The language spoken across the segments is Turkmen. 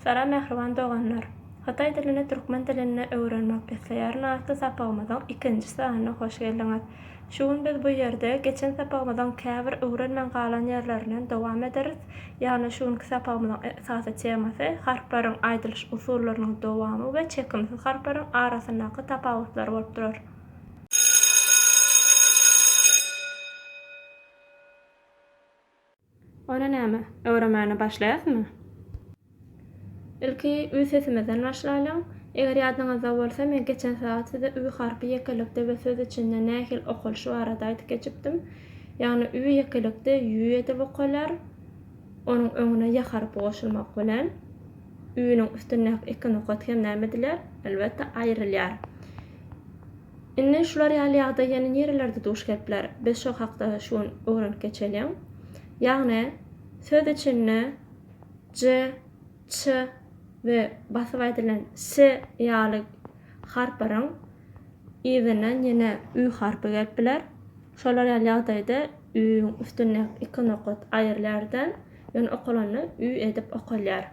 Salam mähriban doganlar! Hytaý dilini türkmen dilinde öwrenmek isleýärin atly sapagymyzyň ikinji sanyna hoş geldiňiz! Şu gün biz bu ýerde geçen sapagymyzyň käbir öwrenmän galan ýerlerinden dowam ederis, ýagny şu günki sapagymyzyň esasy temasy harplaryň aýdylyş usullarynyň dowamy we çekimsiz harplaryň arasyndaky tapawutlar bolup durar. Onda näme, öwremäne başlaýasmy? Ilki ü sesimizden başlaýlyň. Eger ýadyňyzda bolsa, men geçen sagat size ü harpy ýekelikde we söz içinde nähili okalyşy barada aýdyp geçipdim. Ýagny ü ýekelikde ýü edip okalýar, onuň öňüne ýa harpy goşulmak bilen, ü-niň üstündäki iki nokat hem näme edilýär? Elbetde, aýrylýar. Indi şular ýaly ýagdaý ýene nirelerde duş gelip biler? Biz şo hakda şu gün öwrenip geçeliň. Ýagny, söz içinde j, ç we basyp aýdylan s ýaly harplaryň yzyndan ýene ü harpy gelip biler. Şolar ýaly ýagdaýda ü-iň üstündäki iki nokat aýrylýar-da, ýöne okalanda ü edip okalýar.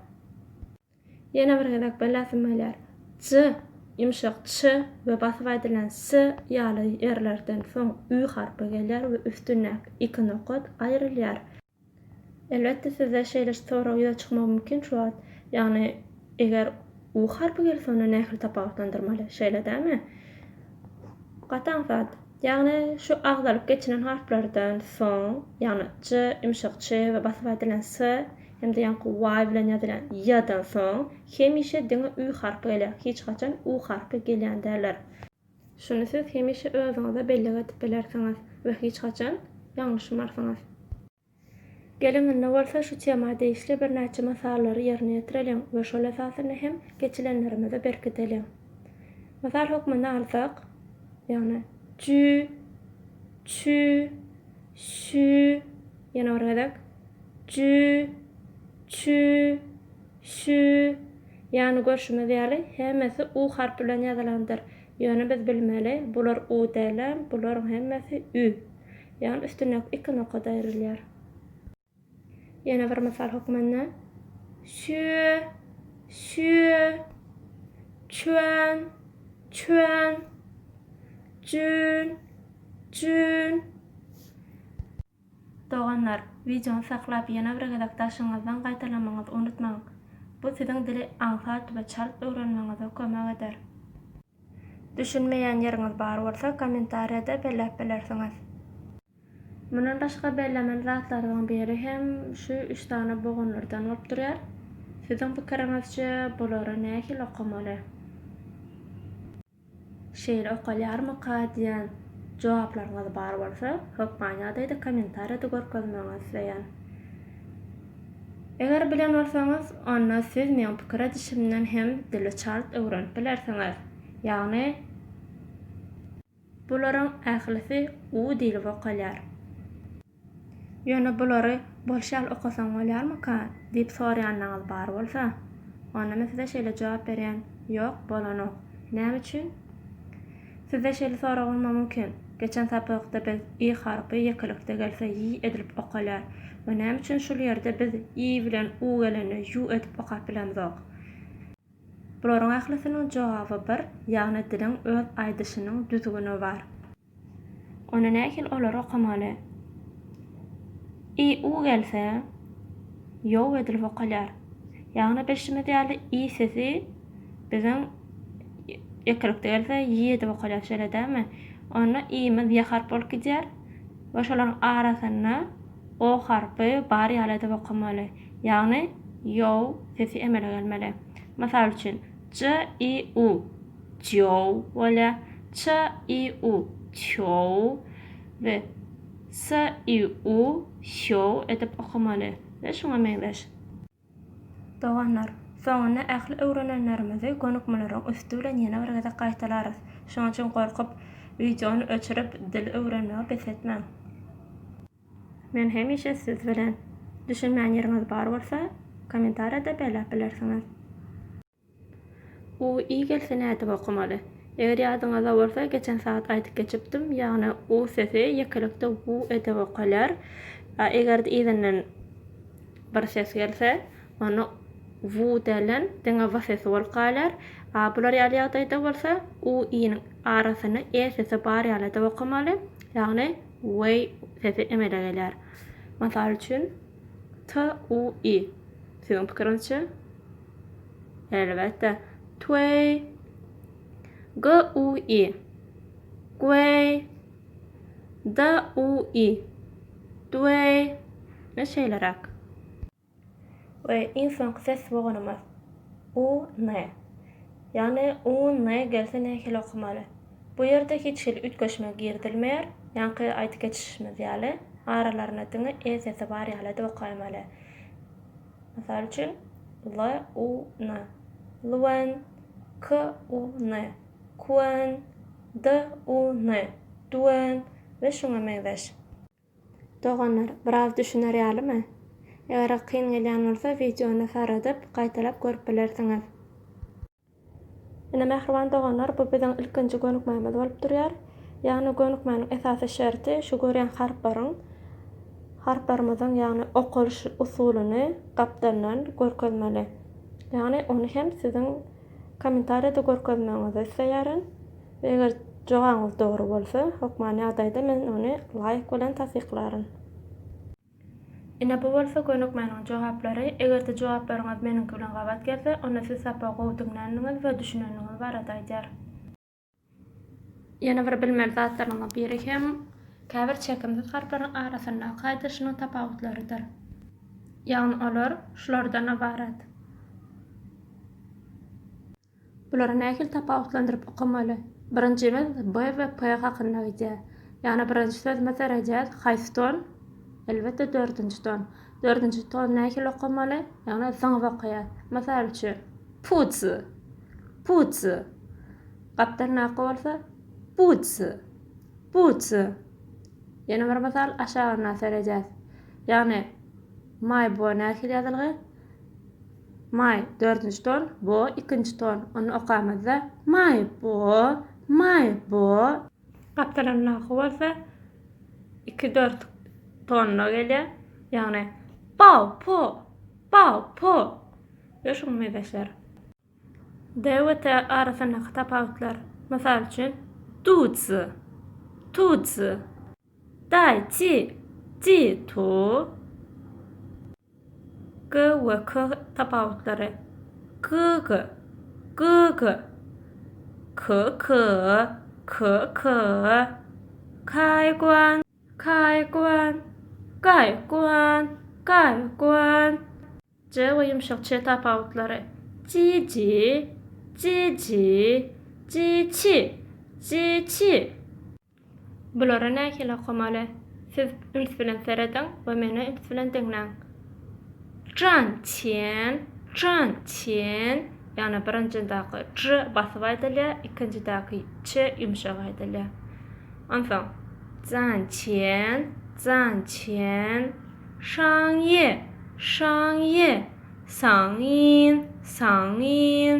Ýene bir gezek belläsim gelýär, j ýumşak ç we basyp aýdylan s ýaly ýerlerden soň ü harpy gelýär we üstündäki iki nokat aýrylýar. Elbetde sizde şeýle sorag ýüze çykmagy mümkin şu wagt, ýagny eger u harpy gelse onda nähili tapawutlandyrmaly, şeýle dälmi? Gaty aňsat. Ýagny şu agzalyp geçilen harplardan soň, ýagny j ýumşak ç we basyp aýdylan s Hem-de ýaňky y bilen ýazylýan ýa-dan soň hemişe diňe ü harpy gelýär, hiç haçan u harpy gelýän däldir. Şuny siz hemişe özüňize bellik edip bilersiňiz we hiç haçan ýalňyşmarsyňyz. Geliň indi bolsa şu tema degişli birnäçe mysallary ýerine ýetireliň we şol esasynda hem geçilenlerimizi berkideliň. Mysal hökmünde alsak, ýagny, jü, çü, Şü, ýene bir gezek. Jü, çü, şü. Ýagny görşümiz ýaly, hemmesi u harpy bilen ýazylandyr. Ýöne biz bilmeli, bular u dälem, bularyň hemmesi ü. Ýagny üstündäki iki nokada aýrylýar. Ýene bir mysal hökmünde, şüe, şüe, çüen, çüen, jün, jün. Doganlar, wideony saklap ýene bir gezek daşyňyzdan gaýtalamagyňyzy unutmaň. Bu siziň dili aňsat we çalt öwrenmegiňize kömek eder. Düşünmeýän ýeriňiz bar bolsa kommentariýada belläp bilersiňiz. Mundan başga bellemeli zatlaryň biri hem şu üç sany bogunlardan bolup durýar. Siziň pikiriňizçe bulary nähili okamaly? Şeýle okalýarmyka diýen jogaplaryňyz bar bolsa, hökman ýagdaýda kommentariýada görkezmegiňizi isleýän. Eger bilen bolsaňyz, onda siz meň pikir edişimden hem dili çalt öwrenip bilersiňiz. Ýagny. Bularyň ählisi U diýlip okalýar. Ýöne bulary bolşy ýaly okasaň bolýarmyka? diýip soraýanlaryňyz bar bolsa, onda men size şeýle jogap berýän, Ýok, bolanok. Näme üçin? Sizde şeýle sorag bolmagy mümkin, Geçen sapakda biz Y harpy ýekelikde gelse Ýy edilip okalýar we näme üçin şul ýerde biz Ýy bilen U gelende Ýu edip okap bilemzok? Bularyň ählisiniň jogaby bir, ýagny diliň öz aýdyşynyň düzgüni bar. Onda nähili olary okamaly? I, u gelse, ýow edilip okalýar. Ýagny bilşimiz ýaly i sesi biziň ýekelikde gelse ýi edip okalýar şeýle dälmi? Onda i-miz ýa harp bolup gidýär we şolaryň arasynda O harpy bar ýaly edip okamaly, ýagny ýow sesi emele gelmeli. Mysal üçin, j, i, u, jyow bolýar, ç, i, u, çyow we s, i, u, syow edip okamaly we şuňa meňzeş. Doganlar, soňunda ähli öwrenenlerimizi gönükmelerin üsti bilen ýene bir gezek gaýtalarys. Şonuň üçin gorkup, wideony öçürip, dil öwrenmegi bes etmäň. Men hemişe siz bilen. Düşünmän ýeriňiz bar bolsa, kommentariýada belläp bilersiňiz. U i gelse nädip okamaly. Eger ýadyňyzda bolsa geçen sagat aýdyp geçipdim ýagny u sesi ýekelikde u edip okalýar a egerde yzyndan bir ses gelse onda u dälden diňe v sesi bolup galýar a bular ýaly ýagdaýda bolsa u iniň arasynda e sesi bar ýaly edip okamaly ýagny we sesi emele gelýär mysal üçin TUI, Siziň pikiriňizçe? Elbetde, Tway. GUI, Gway. DUI, Dway. Ine şeýleräk. We iň soňky ses boganymyz, UN. Ýagny, u-n gelse nähili okamaly? Bu ýerde hiç hili üýtgeşme girizilmeýär, ýaňky aýdyp geçişimiz ýaly, aralaryna diňe e sesi bar ýalyda okaýmaly. Mysal üçin, l, u, n, lwn, k, u, n, kwn, d, u, n, dwn we şuňa meňzeş. Doganlar, biraz düşüner ýalymy? Eger kyn gelýän bolsa, wideony saradyp, gaýtalap görüp bilersiňiz. Ine, mähriban doganlar, bu biziň ilkinji gönükmämiz bolup durýar. Ýagny gönükmäniň esasy şerti şu görýän harplaryň, harplarymyzyň, ýagny okalyş usulyny gapdaldan görkezmeli. Ýagny ony hem siziň kommentariýada görkezmegiňizi isleýärin. We eger jogabyňyz dogry bolsa, hökman ýagdaýda men ony laýk bilen tassyklaryn. Ine bu bolsa gönükmäniň jogaplary, eger-de jogaplaryňyz meniňki bilen gabat gelse, onda siz sapagy gowy diňländiňiz we düşünendiňiz barada aýdar. Ýene bir bilmeli zatlaryňyzyň biri hem käbir çekimsiz harplaryň arasyndaky aýdylyşynyň tapawutlarydyr. Ýagny olar şulardan ybarat. Bulary nähili tapawutlandyryp okamaly? Birinjimiz B we P hakynda gidýär. Ýagny birinji sözüme seredýäs, haýsy ton? Elbetde dördünji ton. Dördünji tony nähili okamaly? Ýagny zyňyp okaýas. Mysal üçin, Pudz! Pudz! Gapdalyndaky bolsa, Budz! Budz! Ýene bir mysal aşagyndan seredýäs. Ýagny, Maýbo nähili ýazylgy? Maý, dördünji ton, bo, ikinji ton. Ony okamyzda, Maý, bo, maý, bo. Gapdalynda nahy bolsa, iki, dört tonuna gelýär. Ýagny, Baw, po, baw, po we şuňa mezeşler. D we T arasyndaky tapawutlar. Mysal üçin, Dudzy, tuzy. Daý, çi, ji, tu, g we k tapawutlary. Gyg, gyg. Ky, ky, ky, ky. Kaý, guan. Kaý, guan. Gaý, guan. Gaý, guan. J we ýumşak ç tapawutlary. Ji, ji, ji, ji, ji, çi, ji, çi. Bulara nähili okamaly? Siz üns bilen serediň we meni üns bilen diňläň. Jan Çen, Jan Çen, ýagny birinjindaky j basyp aýdylýar, ikinjidäki ç ýumşak aýdylýar. Onsoň, Jan Çen, Jan Çen, Şaň Ýe, Şaň Ýe, Saň Ýin, Saň Ýin.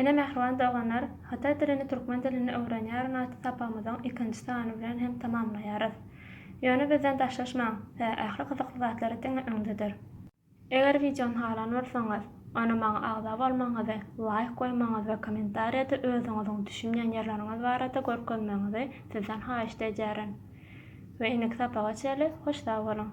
Ine mähriban doganlar, Hytaý dilini türkmen dilini öwrenýärin atly sapagymyzyň ikinji sany bilen hem tamamlaýarys. Ýöne bizden daşlaşmaň, size ähli gyzykly zatlary diňe öňdedir. Eger wideony halan bolsaňyz, onda maňa agza bolmagyňyzy, laýk goýmagyňyzy we kommentariýada özüňiziň düşünmeýän ýerleriňiz barada görkezmegiňizi sizden haýyşt edýärin. We indiki sapaga çenli hoş sag boluň!